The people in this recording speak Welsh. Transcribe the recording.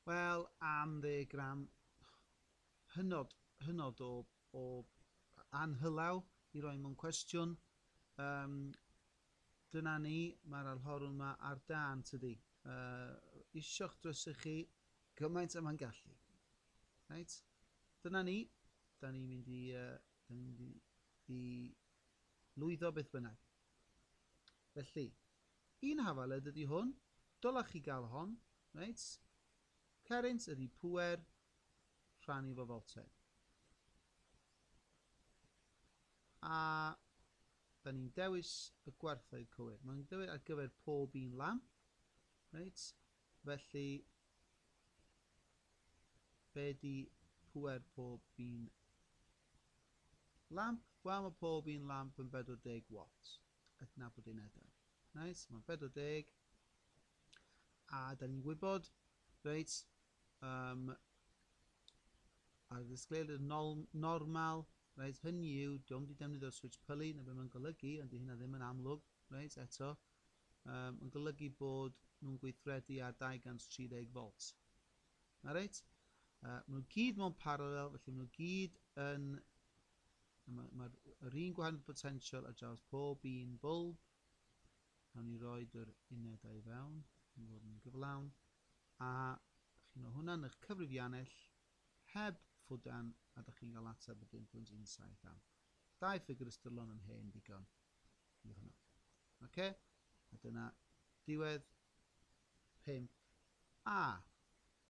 Wel, am ddeg gram, hynod, hynod o, o anhylaw i roi mewn cwestiwn. Um, dyna ni, mae'r alhorwn yma ar dan, tydi. Uh, isio'ch drysu chi gymaint yma'n gallu. Right? Dyna ni, da ni'n mynd i, uh, da ni'n mynd i, i lwyddo beth bynnag. Felly, Un hafaled ydy hwn, dylech chi gael hon, reit. Carynt ydy pŵer rhannu fo fel te. A da ni'n dewis y gwerthoedd cywir. Mae'n dewis ar gyfer pob un lamp, reit. Felly, be di pŵer pob un lamp? Wel, mae pob un lamp yn 40 watt. adnabod unedau. Reit, mae'n 40. A da ni'n gwybod, reit, um, ar y ddisgleir yn normal, reit, hynny yw, diolch wedi defnyddio'r switch pylu, na beth mae'n golygu, ond di hynna ddim yn amlwg, reit, eto, um, yn golygu bod nhw'n gweithredu ar 230 volt. Na reit? Uh, maen nhw gyd mewn parallel, felly maen nhw gyd yn A mae, mae yr un gwahaniaeth potensial ar draws pob un bwlb. Nawn ni roi yr unedau i fewn, yn fod yn gyflawn. A chi'n o hwnna'n eich cyfrifiannell heb ffwdan a da chi'n cael ateb y 1.17 am. Dau ffigur ystyrlon yn hen ddigon i hwnna. Okay? A dyna diwedd 5 a